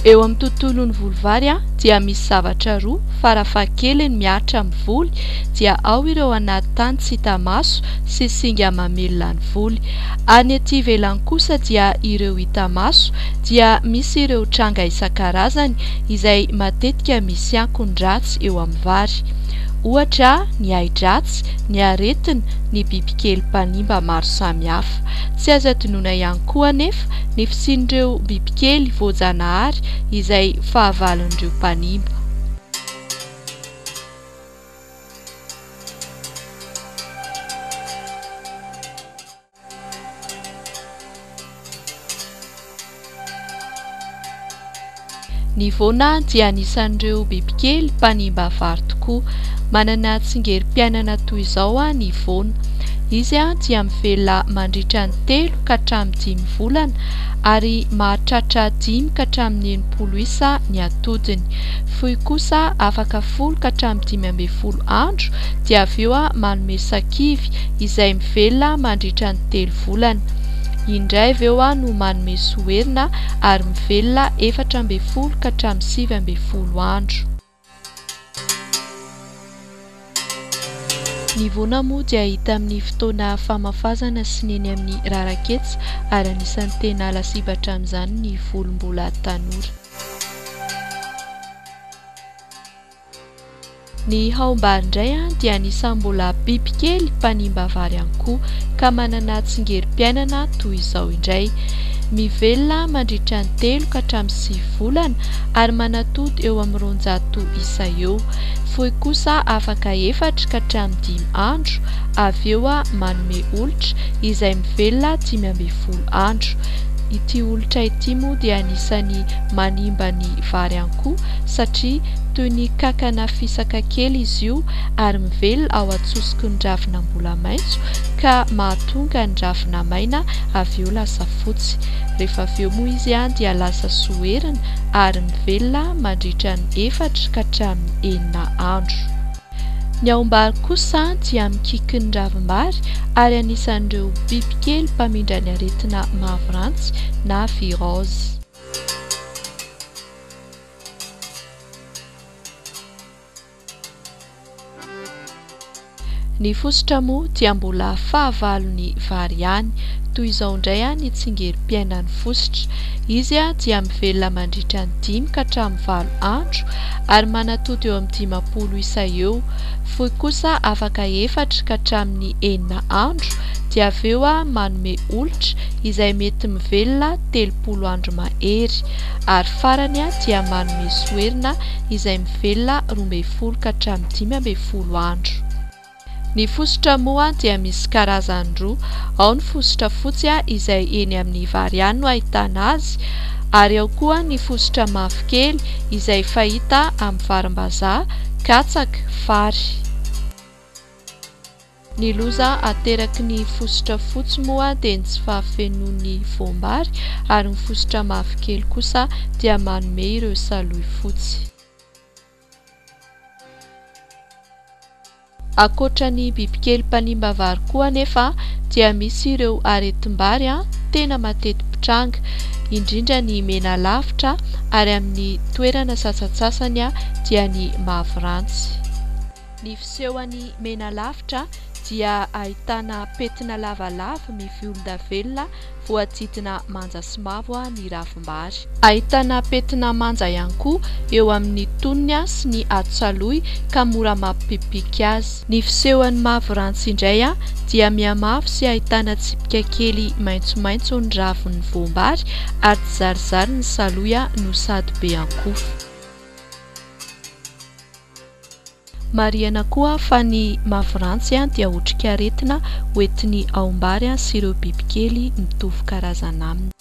Eo amin'ny tontolon'ny voly vary dia misy zavatra roa farafahakeliny mihatra amin'ny voly dia ao ireo anaty tany tsy hita maso sy singa mamelona ny voly. Any ety ivelany kosa dia ireo hita maso dia misy ireo tranga isan-karazany izay matetika misy ankony ratsy eo amin'ny vary. Ohatra, ny ahi-dratsy, ny aretina, ny bibikely mpanimba maro samihafa. Tsy azo adinoina ihany koa anefa ny fisian'ireo bibikely voajanahary izay fahavalon'ireo mpanimba. Ny voana dia anisan'ireo bibikely mpanimba vary tokoa. Manana tsingerim-piainana toy izao ny voana. Izy dia mivelona mandritra ny telo ka hatramin'ny dimy volana ary mahatratra dimy ka hatramin'ny enimpolo isa ny atodiny. fohy kosa afaka folo ka hatramin'ny dimy ambin'ny folo andro dia avy eo manome sakivy izay mivelona mandritra ny telo volana indray avy eo no manome soherina ary mivelona efatra ambin'ny folo ka hatramin'ny sivy ambin'ny folo andro. Ny voana moa dia hita amin'ny fotoana famafazana sy ny eny amin'ny rarak'hetsy ary anisan'ny tena lasibatra amin'izany ny volo mbola tanora. Ny haombary indray dia anisan'ny mbola bibikely mpanimba vary ihany koa ka manana tsingerim-piainana toy izao indray. Mivelona mandritra ny telo ka hatramin'ny sivy volana ary manatody eo amin'ny roanjato isa eo. Fohy kosa afaka efatra ka hatramin'ny dimy andro, avy eo manome olitra izay mivelona dimy ambin'ny folo andro. Ity olitra ity moa dia anisan'ny manimba ny vary any koa satria toy ny kankana fisaka kely izy io ary mivelona ao an-tsosiky ny ravina mbola maitso ka mahatonga ny ravina maina avy eo lasa fotsy. Rehefa avy eo moa izy dia lasa soherina. ary mivelona mandritra ny efatra ka hatramin'ny enina andro. Ny aombary kosa dia mikiky ny ravim-bary ary anisan'ireo bibikely mpamindra ny aretina mavrantsy na virose. Ny fositra moa dia mbola fahavalony vary ihany, toy izao indray ny tsingerim-piainan'ny fositra. Izy dia mivelona mandritra ny dimy ka hatramin'ny valo andro ary manatody eo amin'ny dimampolo isa eo. Foy kosa afaka efatra ka hatramin'ny enina andro dia avy eo manome olitra izay mety mivelona telopolo andro mahery ary farany dia manome soherina izay mivelona roa ambin'ny folo ka hatramin'ny dimy ambin'ny folo andro. Ny fositra moa dia misy karazany roa, ao ny fositra fotsy izay eny amin'ny vary ihany no ahitana azy ary ao koa ny fositra mavokely izay fahita amin'ny varimbazaha, katsaka, vary. Ny loza ateraky ny fositra fotsy moa dia ny tsy fahafenoan'ny voam-bary ary ny fositra mavokely kosa dia manome ireo salohy fotsy. Ankoatra ny bibikely mpanimba vary koa anefa dia misy ireo aretim-bary tena mateti-pitranga, indrindra ny mena lavitra ary amin'ny toerana sasantsasany dia ny mavo rantsy. Ny fisehon'i Menalavitra dia ahitana pentina lavalava mivolondavenona voadidina manja sy mavo ny ravim-bary. Ahitana pentina manja ihany koa eo amin'ny tonony sy ny atsaloy ka mora mampipipiky azy. Ny fisehon'i Mavirantsy indray dia mihamavo sy ahitana tsipika kely maitsomaitso ny ravin'ny voam-bary ary tsy zarizary ny saloy no sady be ankofa. Marihana koa fa ny mafirantsy dia otrikaretina hoentin'ny aombary sy ireo bibikely mitovy karazana aminy.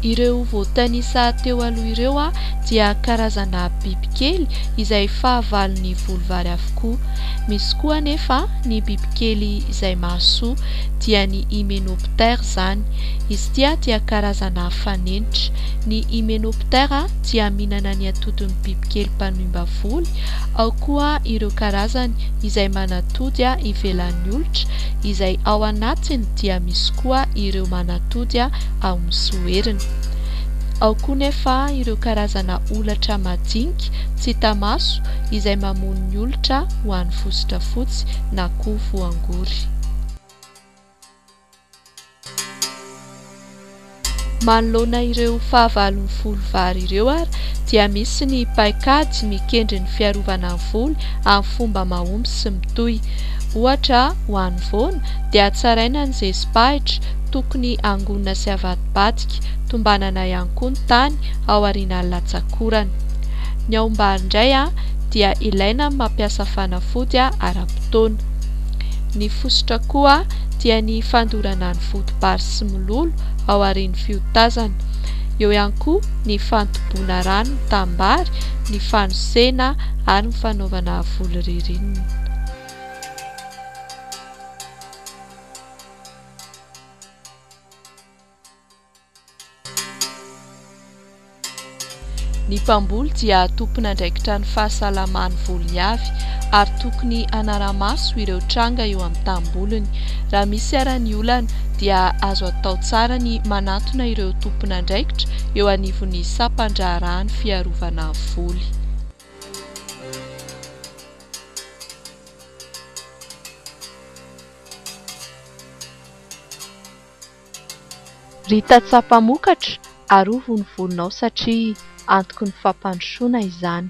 Ireo voatanisa teo aloha ireo dia karazana bibikely izay fahavalon'ny volovary avokoa. Misy koa anefa ny bibikely izay mahasoa, dia ny Hymenoptère izany. Izy ity dia karazana fanenitra. Ny Hymenoptera dia mihinana ny atodin'ny bibikely mpanoimba voly, ao koa ireo karazany izay manatody ivelan'ny olotra, izay ao anatiny dia misy koa ireo manatody ao amin'ny soheriny. Ao koa nefa ireo karazana holatra madinika tsy hita maso izay mamono ny olotra ho an'ny fositra fotsy na koa voangory. Manoloana ireo fahavalon'ny voly vary ireo ary dia misy ny paikady mikendry ny fiarovana ny voly amin'ny fomba mahomby sy mitohy. Ohatra, ho an'ny voana dia hatsaraina ny zezi-pahitra, tokony hangonina sy havadibadika, tombanana ihany koa ny tany aorian'ny latsakorana. Ny aom-bary indray dia ilaina amin'ny mampiasa fanafody ara-potoana. Ny fositra koa dia ny fandorana ny foto-bary sy mololo ao aorian'ny fiotazana. Eo ihany koa ny fantoboana rano ny tanimbary, ny fanosena ary ny fanaovana voly ririnina. Ny mpamboly dia tompon'andraikitra ny fahasalaman'ny volony avy ary tokony hanara-maso ireo tranga eo amin'ny tanimboliny. Raha misy ara ny olana dia azo atao tsara ny manantona ireo tompon'andraikitra eo anivon'ny sampan-draharahan'ny fiarovana voly. Ry tantsaha mpamokatra, arovy ny volonao satria antoky ny fampandrosoana izany.